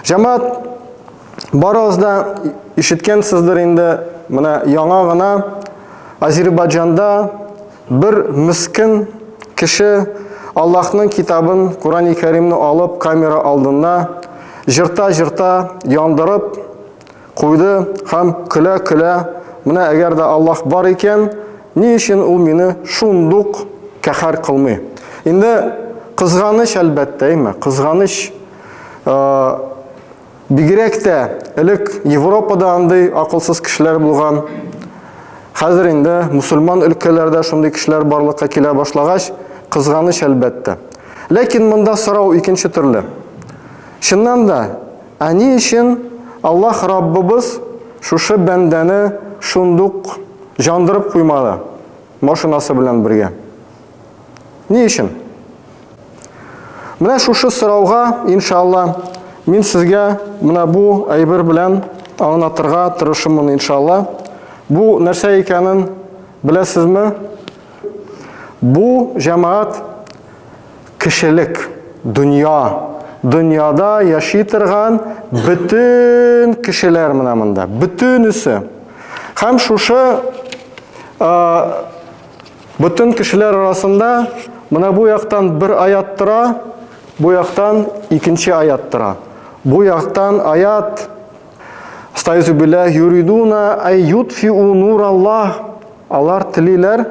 Җәмәт барыгыз да ишеткәнсездер инде, менә яңа гына Азербайҗанда бер мискен кеше Аллаһның китабын, Корани Кәримне алып, камера алдында җырта-җырта яндырып куйды һәм көлә-көлә, менә әгәр дә Аллаһ бар икән, Ни өчен ул мине шундук каһәр кылмый? Инде кызганыч, әлбәттә, әйме, кызганыч. Бигрәк тә элек Европада андый акылсыз кешеләр булган. Хәзер инде мусульман өлкәләрдә шундый кешеләр барлыкка килә башлагач, кызганыч, әлбәттә. Ләкин монда сорау икенче төрле. Чыннан да, Ә ни өчен Аллаһ Раббыбыз шушы бәндәне шундук җандырып куймады машинасы белән бергә? Ни өчен? Менә шушы сорауга, иншалла, мин сезгә менә бу әйбер белән аңлатырга тырышымын, иншалла. Бу нәрсә икәнен беләсезме? Бу җәмәгать Кешелек, дөнья, дөньяда яши торган бөтен кешеләр менә монда, бөтенесе. Һәм шушы бөтен кешеләр арасында менә бу яктан бер аят тора, бу яктан икенче аят тора. Бу яктан аят Стайзу белә юридуна ай ютфиу нур Аллах. Алар телиләр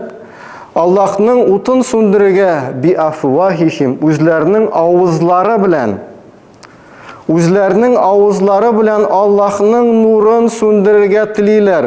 Аллахның утын сүндерергә би афвахихим үзләренең авызлары белән. Үзләренең авызлары белән Аллахның нурын сүндерергә телиләр.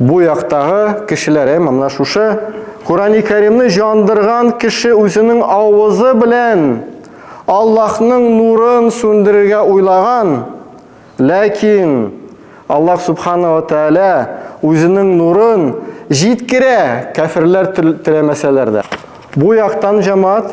Бу яктагы кешеләре монда шушы Корани Кәримне җандырган кеше үзенең авызы белән Аллаһның нурын сүндерергә уйлаган, ләкин Аллаһ Субхана ва Тәәлә үзенең нурын җиткерә, кәферләр теләмәсәләр дә. Бу яктан җамаат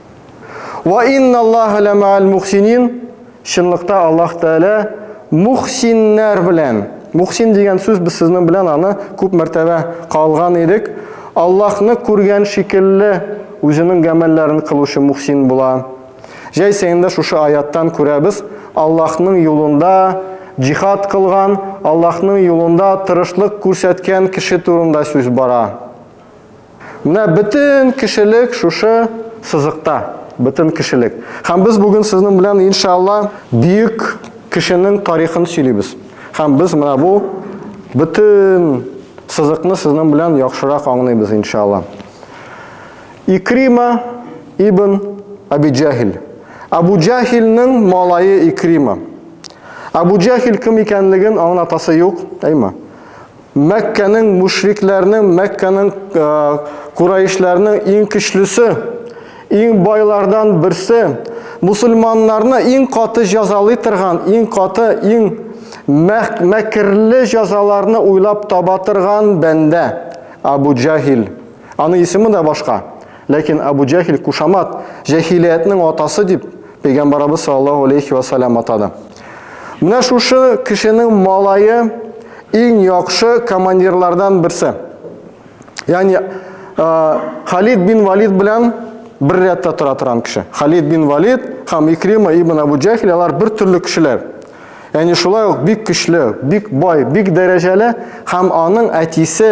Ва инналлаһа ла маал мухсинин. Чынлыкта Аллаһ Тәгалә мухсиннәр белән. Мухсин дигән сүз без сезнең белән аны күп мәртәбә калган идек. Аллаһны күргән шикелле үзенең гамәлләрен кылучы мухсин була. Җәйсә инде шушы аяттан күрәбез, Аллаһның юлында җихад кылган, Аллаһның юлында тырышлык күрсәткән кеше турында сүз бара. Менә бөтен кешелек шушы сызыкта, бөтен кешелек. Һәм без бүген сезнең белән иншалла бөек кешенең тарихын сөйлибез. Һәм без менә бу бөтен сызыкны сезнең белән яхшырак аңлыйбыз иншалла. Икрима ибн Аби Джахил. Абу Джахилнең малае Икрима. Абу Джахил кем икәнлеген аңлатасы юк, әйме? Мәккәнең мушрикләрнең, Мәккәнең э, кураишләрнең иң көчлесе, иң байлардан берсе, мусульманнарны иң каты җәзалый торган, иң каты, иң мәкерле җәзаларны уйлап таба торган бәндә Абу Җахил. Аның исеме дә башка. Ләкин Абу Җәхил кушамат, җәһилиятнең атасы дип, Пәйгамбарыбыз саллаллаһу алейхи ва салям атады. Менә шушы кешенең малае иң яхшы командирлардан берсе. Ягъни Халид бин Валид белән бер рәттә тора торган кеше. Халид бин Валид һәм Икрима ибн Абу Җәхил алар бер төрле кешеләр. Ягъни шулай ук бик көчле, бик бай, бик дәрәҗәле һәм аның әтисе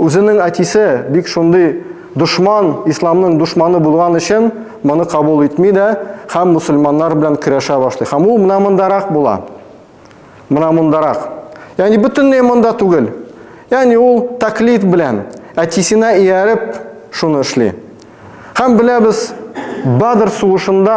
Үзенең әтисе бик шундый дошман, исламның дошманы булган өчен моны кабул итми дә һәм мусульманнар белән көрәшә башлый. Һәм ул менә мондарак була. Менә мондарак. Ягъни бөтенләй монда түгел. Ягъни ул таклит белән әтисенә ияреп шуны эшли. Һәм беләбез, Бадр сугышында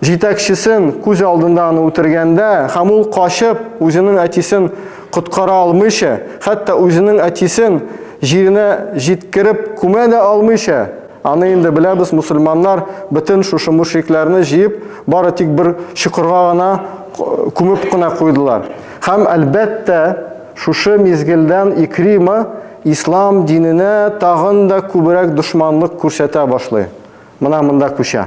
Җитәкчесен күз алдында аны үтергәндә һәм ул качып, үзенең әтисен коткара алмыйча, хәтта үзенең әтисен җиренә җиткереп күмә дә алмыйча, аны инде беләбез, мусульманнар бөтен шушы мөшрикләрне җыеп, бары тик бер чокырга гына күмеп кенә куйдылар. Һәм, әлбәттә, шушы мизгелдән Икрима ислам диненә тагын да күбрәк дошманлык күрсәтә башлый. Менә монда күчә.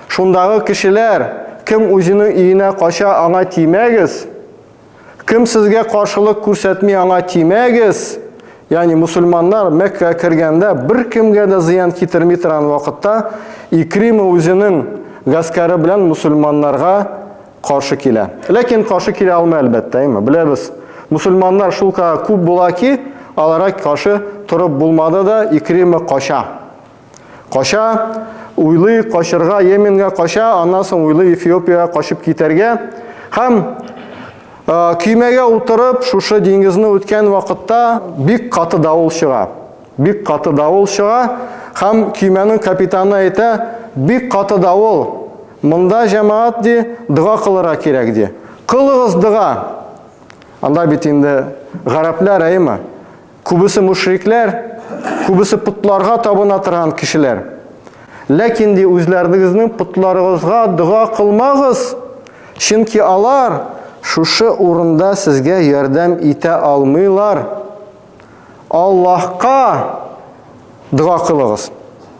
Шундагы кешеләр, кем үзенең өенә кача, аңа тимәгез, кем сезгә каршылык күрсәтми, аңа тимәгез, ягъни мөселманнар Мәккәгә кергәндә беркемгә дә зыян китерми торган вакытта Икрима үзенең гаскәре белән мөселманнарга каршы килә. Ләкин каршы килә алмый, әлбәттә, әйме? Беләбез, мөселманнар шулкадәр күп була ки, аларга каршы торып булмады да, Икрима кача. Кача, уйлый, качырга Йеменгә кача, аннан соң уйлый Эфиопиягә качып китәргә. Һәм көймәгә утырып, шушы диңгезне үткән вакытта бик каты давыл чыга. Бик каты давыл чыга һәм көймәнең капитаны әйтә, бик каты давыл, монда җәмәгать ди, дога кылырга кирәк ди. Кылыгыз дога! Анда бит инде гарәпләр, әйме? Күбесе мушрикләр, күбесе потларга табына торган кешеләр. Ләкин ди үзләрегезнең потларыгызга дога кылмагыз, чөнки алар шушы урында сезгә ярдәм итә алмыйлар. Аллаһка дога кылыгыз.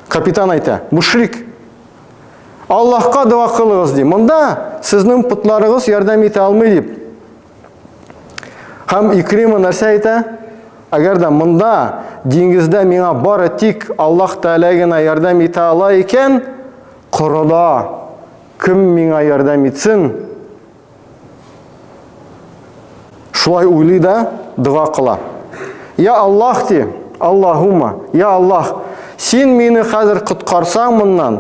Капитан әйтә, мушрик. Аллаһка дога кылыгыз ди. Монда сезнең потларыгыз ярдәм итә алмый дип. Һәм Икрима нәрсә әйтә? Әгәр дә монда диңгездә миңа бары тик Аллаһ Тәгалә генә ярдәм итә ала икән, корыда кем миңа ярдәм итсен? Шулай уйлый да дога кыла. Я Аллаһ ди, Аллаһума, я Аллаһ, син мине хәзер коткарсаң моннан,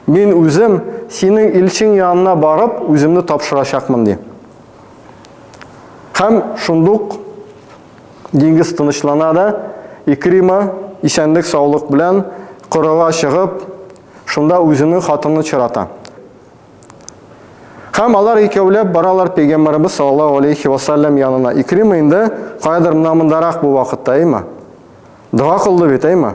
мин үзем синең илчең янына барып, үземне тапшырачакмын ди. Һәм шундук диңгез тынычлана да, Икрима исәнлек саулык белән корыга чыгып, шунда үзенең хатынын очрата. Һәм алар икәүләп баралар пәйгамбәрбез саллаллаһу алейхи ва саллям янына. Икрима инде каядыр мына мондарак бу вакытта, әйме? Дога кылды бит, әйме?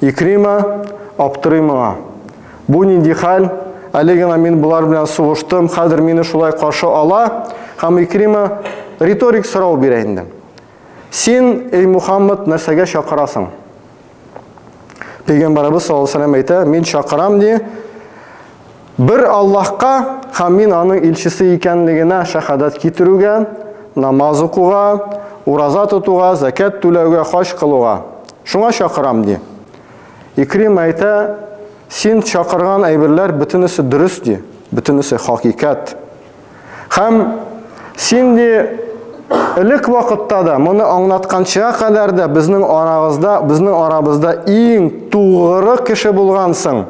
Икрима аптырый моңа. Бу нинди хәл? Әле генә мин болар белән сугыштым, хәзер мине шулай каршы ала. Һәм Икрима риторик сорау бирә инде. Син, эй Мухаммад, нәрсәгә чакырасың? Пәйгамбәребез саллаллаһу алейһи әйтә, мин чакырам ди, Бер Аллаһка һәм мин аның илчесе икәнлегенә шәһадәт китерүгә, намаз укуга, ураза тотуга, зәкят түләүгә, хаҗ кылуга. Шуңа чакырам, ди. Икримә әйтә, Син чакырган әйберләр бөтенесе дөрес, ди, бөтенесе хакыйкать. Һәм син, ди, элек вакытта да, моны аңлатканчыга кадәр дә безнең арагызда, безнең арабызда иң тугры кеше булгансың.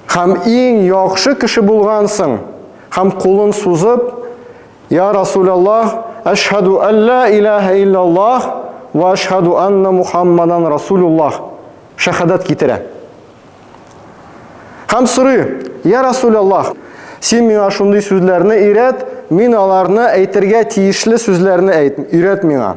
Хәм иң яхшы кеше булгансың. Хәм кулын сузып, Я Расул Аллах, әшһаду әллә иләһә иллаллах ва әшһаду анна Мухаммадан Расулуллах. Шәһадәт китерә. Хәм сорый, Я Расул Аллах, син миңа шундый сүзләрне өйрәт, мин аларны әйтергә тиешле сүзләрне әйт, өйрәт миңа.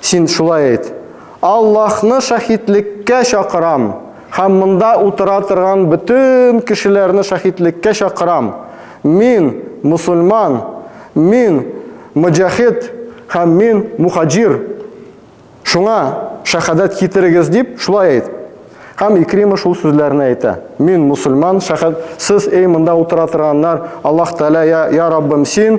Син шулай әйт, Аллаһны шаһитлеккә чакырам һәм монда утыра торган бөтен кешеләрне шаһитлеккә чакырам, мин, мосульман, мин, моҗахид һәм мин, мухаҗир, шуңа шәһадәт китерегез дип, шулай әйт. Һәм Икрима шул сүзләрне әйтә. Мин, мосульман, шәһәд, сез, эй монда утыра торганнар, Аллаһ Тәгалә, йә, йә Раббым, син,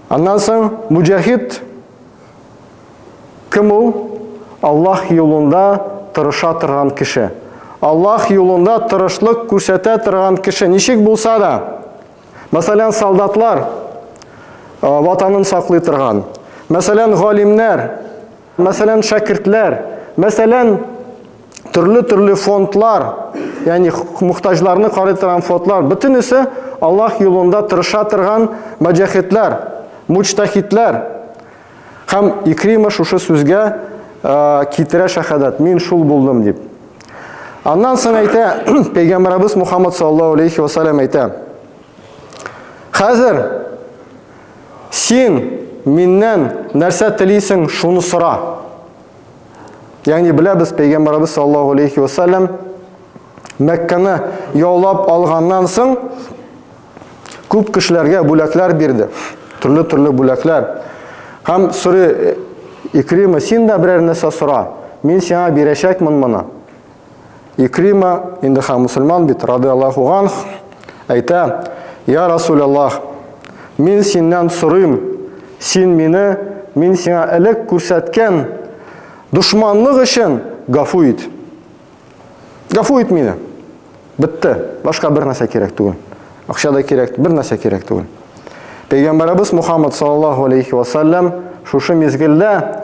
Аннан соң муҗахид кем ул? Аллаһ юлында тырыша торган кеше. Аллаһ юлында тырышлык күрсәтә торган кеше ничек булса да, мәсәлән, солдатлар ватанын саклый торган, мәсәлән, галимнәр, Мәсәлән, шәкертләр, мәсәлән, төрле-төрле фондлар, ягъни мохтаҗларны карый торган фондлар, бөтенесе Аллаһ юлында тырыша торган маҗахидләр, мучтахидләр. Һәм Икрима шушы сүзгә китерә шәһадәт, мин шул булдым дип. Аннан соң әйтә, пәйгамбәрбез Мухаммад саллаллаһу алейхи ва саллям әйтә. Хәзер Син миннән нәрсә телисең, шуны сора. Ягъни беләбез, пәйгамбәрбез саллаллаһу алейхи ва саллям Мәккәне яулап алганнан соң күп кешеләргә бүләкләр бирде. Төрле-төрле бүләкләр. Һәм сүре Икрима, син дә берәр нәрсә сора. Мин сиңа бирәчәкмен моны. Икрима, инде хәм мусульман бит, рады Аллаху ганх, әйтә, Я Расул Аллах, мин синнән сорыйм, син мине, мин сиңа элек күрсәткән дошманлык өчен гафу ит. Гафу ит мине. Бетте. Башка бер нәрсә кирәк түгел. Акча да кирәк, бер нәрсә кирәк түгел. Пәйгамбарыбыз Мухаммад саллаллаху алейхи ва саллям шушы мизгелдә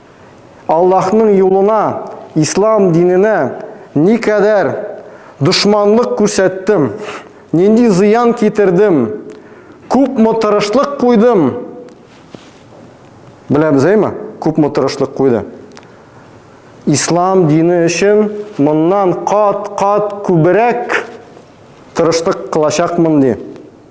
Аллаһның юлына, ислам диненә никадәр дошманлык күрсәттем, нинди зыян китердем, күпме тырышлык куйдым. Беләбез, әйме? Күпме тырышлык куйды. Ислам дине өчен моннан кат-кат күбрәк тырышлык кылачакмын ди.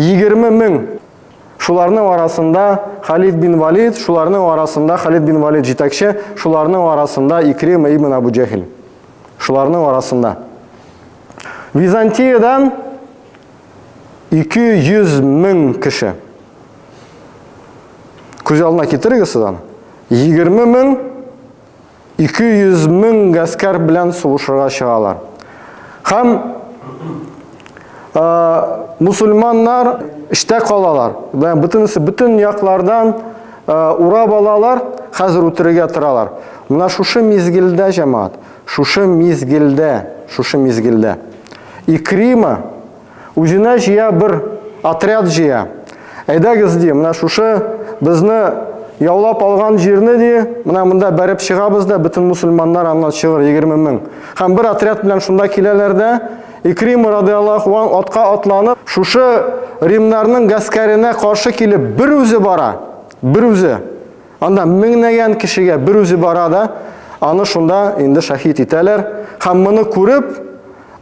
Егерме мең! Шуларның арасында Халид бин Валид, шуларның арасында Халид бин Валид җитәкче, шуларның арасында Икрима ибн Абу Җәһил. Шуларның арасында. Византиядән 200 мең кеше. Күз алдына китерегез сезон. 20 мең 200 мең гаскәр белән сугышырга чыгалар. Һәм мусульманнар эштә калалар. Бөтенесе бөтен яклардан урап алалар, хәзер үтерергә торалар. Менә шушы мизгелдә, җәмәгать, шушы мизгелдә, шушы мизгелдә Икрима Үзенә җыя бер отряд җыя. Әйдәгез ди, менә шушы безне яулап алган җирне ди, менә монда бәреп чыгабыз да, бөтен мусульманнар аннан чыгыр 20 мең. Һәм бер отряд белән шунда киләләр дә, Икрим радиаллаху ан атка атланып, шушы римнарның гаскәренә каршы килеп бер үзе бара, бер үзе. Анда меңнәгән кешегә бер үзе бара да, аны шунда инде шәһид итәләр. Һәм моны күреп,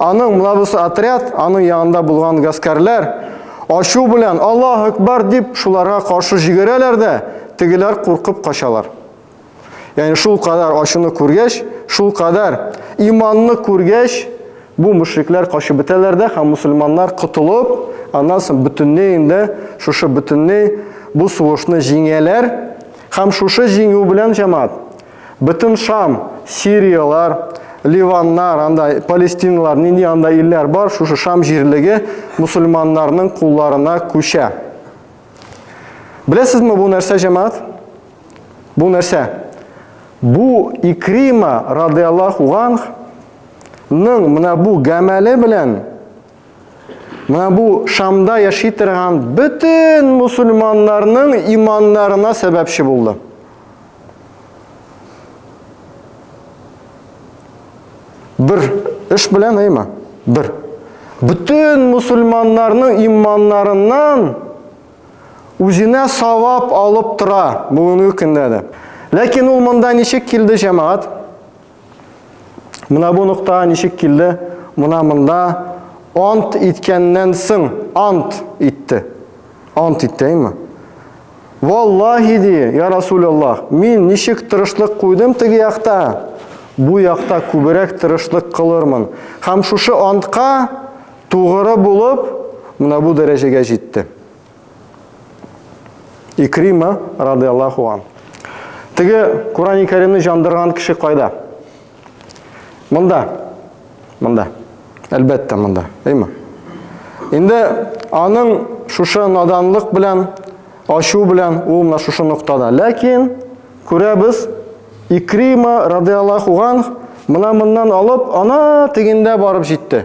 аның млабысы отряд, аның янында булган гаскәрләр ачу белән Аллаһ Акбар дип шуларга каршы җигерәләр дә, тегеләр куркып качалар. Ягъни шул кадәр ачуны күргәч, шул кадәр иманны күргәч, Бу мөшрикләр качып бетәләр дә һәм мусульманнар котылып, аннан соң бөтенләй инде шушы бөтенләй бу сугышны җиңәләр һәм шушы җиңү белән җәмәгать бөтен Шам, Сириялар, Ливаннар, анда Палестиналар, нинди анда илләр бар, шушы Шам җирлеге мусульманнарның кулларына күчә. Беләсезме бу нәрсә җәмәгать? Бу нәрсә? Бу Икрима радиаллаху анх Ның менә бу гамәле белән менә бу Шамда яши торган бөтен мусульманнарның иманнарына сәбәпче булды. Бер эш белән әйма. Бер. Бөтен мусульманнарның иманнарыннан үзенә савап алып тора бүгенге көндә дә. Ләкин ул монда ничек килде, җәмәгать? Мына бу нокта ничек килде? Мына монда ант иткәннән соң ант итте. Ант итте, әйме? Валлахи ди, я Расулаллах, мин ничек тырышлык куйдым теге якта, бу якта күбрәк тырышлык кылырмын. Һәм шушы антка тугры булып, мына бу дәрәҗәгә җитте. Икрима радиаллаху ан. Теге Курани Кәримне җандырган кеше кайда? Монда. Монда. Әлбәттә, монда. Әйме? Инде аның шушы наданлык белән, ашу белән ул менә шушы ноктада. Ләкин күрәбез, Икрима радиаллаху ан мына моннан алып, ана тегендә барып җитте.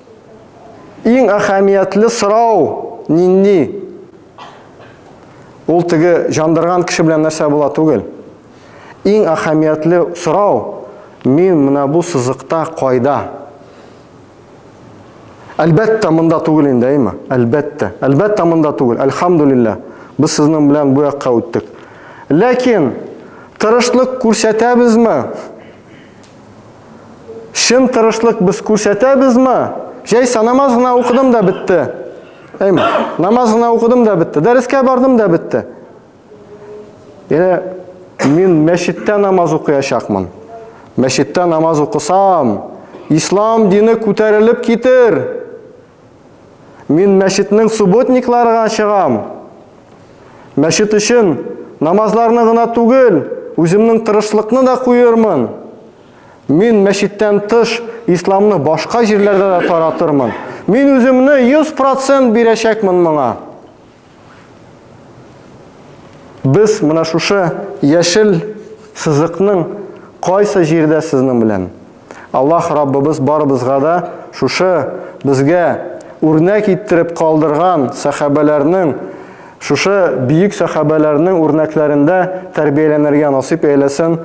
Иң әһәмиятле сорау нинди? Ул теге җандырган кеше белән нәрсә була түгел. Иң әһәмиятле сорау, мин менә бу сызыкта кайда? Әлбәттә, монда түгел инде, әйме? Әлбәттә. Әлбәттә, монда түгел. Әлхамдулилла, без сезнең белән бу якка үттек. Ләкин тырышлык күрсәтәбезме? Чын тырышлык без күрсәтәбезме? Җәйсә намаз гына укыдым да бетте. Әйме, намаз гына укыдым да бетте. Дәрескә бардым да бетте. Яне мин мәчеттә намаз укыячакмын. Мәчеттә намаз укысам, ислам дине күтәрелеп китер. Мин мәчетнең субботникларга чыгам. Мәчет өчен намазларны гына түгел, үземнең тырышлыкны да куермын. Мин мәчеттән тыш исламны башка җирләрдә дә таратырмын. Мин үземне 100% бирәчәкмен моңа. Без менә шушы яшел сызыкның кайсы җирдә сезнең белән? Аллаһ Раббыбыз барыбызга да шушы безгә үрнәк иттереп калдырган сәхабәләрнең шушы бөек сәхабәләрнең үрнәкләрендә тәрбияләнергә насыйп әйләсен.